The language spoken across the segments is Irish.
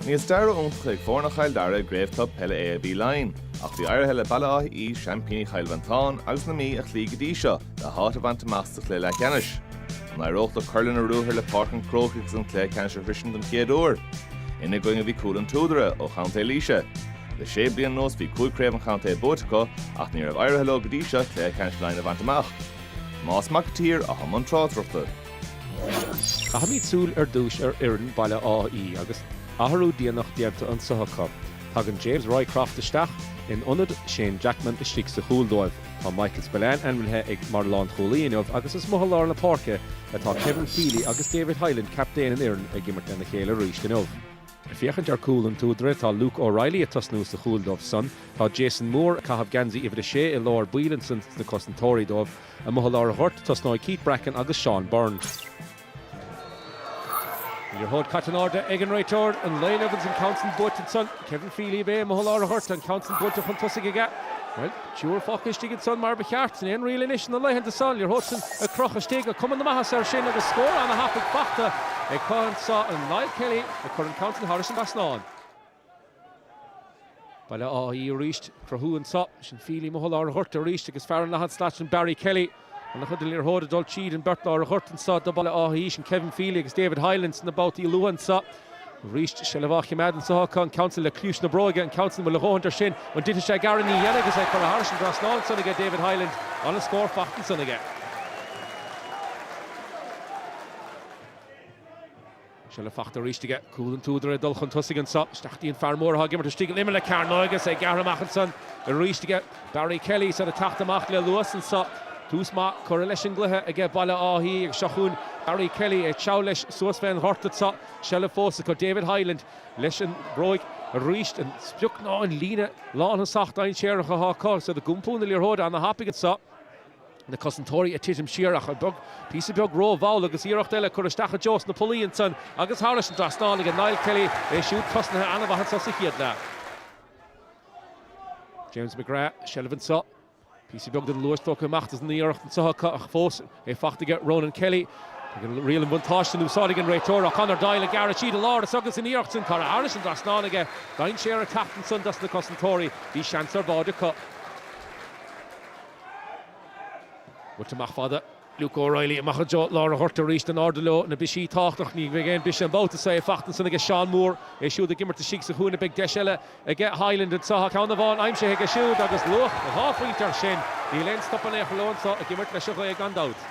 Ní stair iontach ag foirne Chill Dara i gCraobh Club Peile AIB Laighin, ach bhí éirithe le Baile Átha Í, seaimpíní Chill Mhantáin agus na Mí a chloí go dtí seo, le háit a bhaint amach sa chluiche leathcheannais. An éireodh leo cur lena ruathar le Páirc an Chrócaigh agus an cluiche ceannais a shroisint don chéad uair? Ina gcoinne bhí Cúil an tSúdaire, ó chontae Laoise. Le sé bliana anuas bhí cúig chraobh an chontae buaite acu ach ní raibh éirithe leo go dtí seo cluiche ceannais Laighin a bhaint amach. Tomás Mac an tSaoir atá i mbun tráchtaireachta. Caithimid súil ar dtúis ar fhoireann Baile Átha Í agus athrú déanach déanta anseo acu. Tagann James Roycroft isteach in ionad Shane Jackman istigh sa chúl dóibh. Tá Michael Spillane ainmnithe ag mar lánchúlaí inniu agus is amuigh i lár na páirce atá Kevin Feely agus David Hyland, captaen na foirne, ag imirt lena chéile arís inniu. Ag féachaint ar Cúil an tSúdaire, tá Luke O'Reilly ag tosnú sa chúl dóibh san. Tá Jason Moore ag caitheamh geansaí uimhir a sé i lár baill ansan sna cosantóirí dóibh. Amuigh i lár an ghoirt, tosnóidh Keith Bracken agus Seán Byrne. Liathróid caite in airde ag an réiteoir, an Laighean agus an ceann sin buailte ansan, Kevin Feely ab é, amuigh i lár an ghoirt, an ceann sin buailte chun tosaigh aige. Bhuel, triúr fágtha istigh ansan mar ba cheart, sin é an riail anois na laethanta seo, an liathróid sin ag crochadh isteach, tá cuma na maitheasa ar sin agus scór ana thapaidh fachta acu anso, Niall Kelly ag cur an ceann sin thairis an trasnán. Baile Átha Í arís. ag cruthú anseo. Sin Feely amuigh i lár an ghoirt arís agus fear an leathad slat ansan Barry Kelly. An-chuid den liathróid ag dul tríd an beirt láir ghoirt anseo do Bhaile Átha Í, sin Kevin Feely agus David Hyland sna babhtaí luath anseo. Arís seilbh á chimeád anseo acu, an ceann san le cliathán na bróige, an ceann san an bhfuil a dhóthaint ar sin, an dtitfidh sé gearr ní dhéanann agus é curtha thairis an trasnán ansan aige David Hyland, an-scór faighte ansan aige. Seilbh fachta aríst aige. Cúil an tSúdaire ag dul chun tosaigh anseo. Isteach dtí an fear mór atá ag imirt istigh in imeall na cearnóige agus é gearrtha amach ansan aríst aige. Barry Kelly is iad ag teacht amach le luas anseo. Tús maith curtha leis an gcluiche aige Baile Átha Í agus seo chugainn Barry Kelly ag treabhadh leis suas fén ghort anseo. Seilbh fós acu David Hyland leis an mbróig aríst. An sprioc ná an líne lánthosach dainséarach atá acu agus iad ag iompú na liathróide ana-thapaidh anseo. na cosantóirí ag titim siar ach beag píosa beag ró-mhall agus iarracht eile curtha isteach i dtreo na bpollaí ansan agus thairis an dtrasnán ag Niall Kelly, é siúd tosnaithe an-mhaith anso sa chéad leath. James McGrath, seilbh anso, píosa beag den luas tógtha amach as an iarracht anso acu ach fós é faighte aige Ronan Kelly. Agus riail an buntáiste in úsáid ag an réiteoir ach Conor Doyle ag gearradh tríd an lár agus an iarracht sin curtha thairis an dtrasnán aige, dainséar ag teacht ansan dos na cosantóirí, bhí seans ar báide acu. Buailte amach fada Luke O'Reilly amach i dtreo lár an ghorta arís in airde leo, na bristí tábhachtach. Ní bheidh aon bhriseadh an babhta seo, é fachta ansan aige Seán Moore, é siúd ag imirt istigh sa chúinne. Beidh deis eile aige Hyland anseo, tá ceann amháin aimsithe aige siúd agus luach dhá phointe air sin. Níl aon stop in aon chor leo anseo, ag imirt leis an ghaoth gan dabht.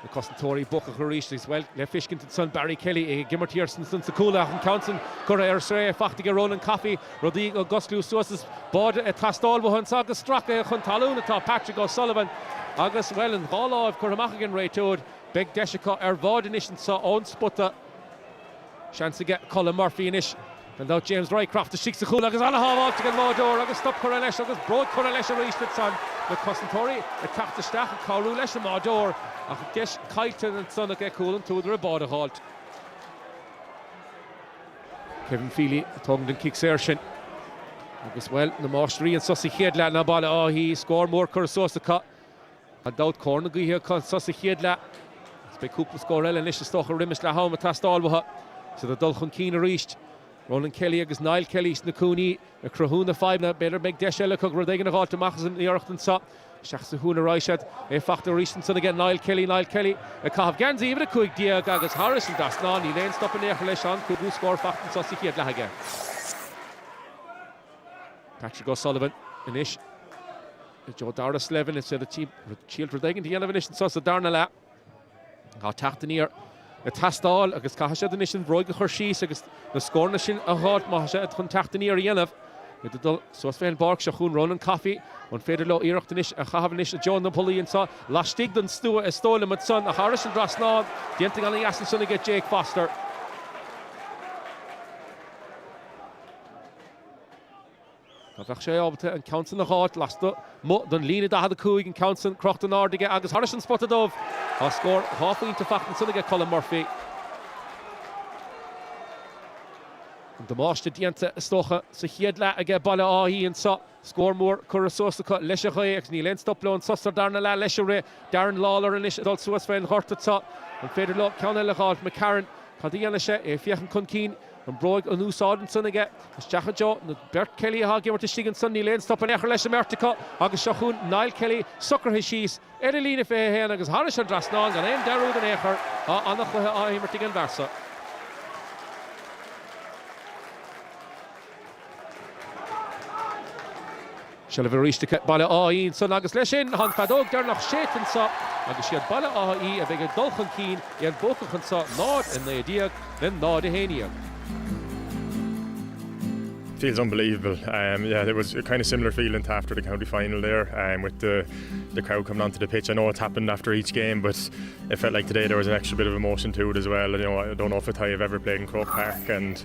Na cosantóirí buacach arís agus, bhuel, le feiscint ansan Barry Kelly ag imirt thiar ansan sa chúl ach an ceann san curtha ar strae fachta aige Ronan Coffey, rudaí ag osclú suas is báide ag teastáil uathu anso agus stracaithe chun talún atá Patrick O'Sullivan agus, bhuel, an dhá láimh curtha amach ag an réiteoir, beidh deis acu ar bháid anois anso ón spota. Seans aige Colm Murphy anois. Gan dabht James Roycroft istigh sa chúl agus an-shábháilt ag an mbáideoir agus stop curtha leis agus bróig curtha leis arís ansan. Na cosantóirí ag teacht isteach ag cabhrú leis an mbáideoir ach deis caillte ansan aige Cúil an tSúdaire báide a dh'fháilt. Kevin Feely a thógann an cic saor sin agus, bhuel, na máistrí anso sa chéad leath ná Baile Átha Í. Scór mór curtha suas acu. Gan dabht, cóir na gaoithe acu anso sa chéad leath agus beidh cúpla scór eile anois, is dócha, roimis leath am ag teastáil uathu. Is iad ag dul chun cinn arís. Ronan Kelly agus Niall Kelly sna cúinní ag cruthú na fadhbanna. B'fhéidir go mbeidh deis eile acu rud éigin a dh'fháilt amach as an iarracht anso. Isteach sa chúinne arís iad. É fachta arís ansan aige Niall Kelly. Niall Kelly ag caitheamh geansaí uimhir a cúig déag agus thairis an dtrasnán, níl aon stop in aon chor leis, an cúigiú scór fachta anso sa chéad leath aige. Patrick O'Sullivan anois. dtreo Darragh Slevin is ea rud ciallmhar rud éigin a dhéanamh anois anso sa darna leath. Tá teacht aniar ag teastáil agus caithfidh siad anois an bhróig a chur síos agus na scóranna sin a dh'fháilt má tá siad chun teacht aniar a dhéanamh. Iad ag dul suas fé an bpáirc seo chugainn Ronan Coffey, an féidir leo iarracht anois a chaitheamh anois i dtreo na bpolaí anso laistigh den stua is dóigh liom ansan agus thairis an trasnán déanta go hana-dheas ansan aige Jake Foster. Dá mbeadh sé ábalta an ceann san a dh'fháilt lasmuigh don líne 45, an ceann san crochta in airde aige agus thairis an spota dubh, tá scór dhá phointe fachta ansan aige Colm Murphy. An damáiste déanta, is dócha, sa chéad leath aige Baile Átha Í anso. Scór mór curtha suas acu leis an ghaoth agus níl aon stop leo anso sa darna leath leis an rith. Darren Lawlor anois ag dul suas fén ghort anseo. An féidir leo ceann eile a dh'fháilt? McCarron, cad a dhéanfaidh sé? É ag féachaint chun cinn. An bhróig in úsáid ansan aige isteach i dtreo na beirt Kelly atá ag imirt istigh ansan, níl aon stop in aon chor leis an mbeirt acu agus seo chugainn Niall Kelly socraithe síos ar an líne 21 agus thairis an trasnán gan aon dearúd in aon chor, tá ana-chluiche á imirt ag an bhfear so. Seilbh arís ag Baile Átha Í ansan agus leis sin tá an feadóg deireanach séidte anso agus siad Baile Átha Í a bheidh ag dul chun cinn i an buacach anso 0, 19 le 0, 11. feels unbelievable um yeah there was a kind of similar feeling to after the county final there and um, with the the crowd coming onto the pitch I know it's happened after each game but it felt like today there was an extra bit of emotion to it as well you know I don't know if it's how you've ever played in Croke Park and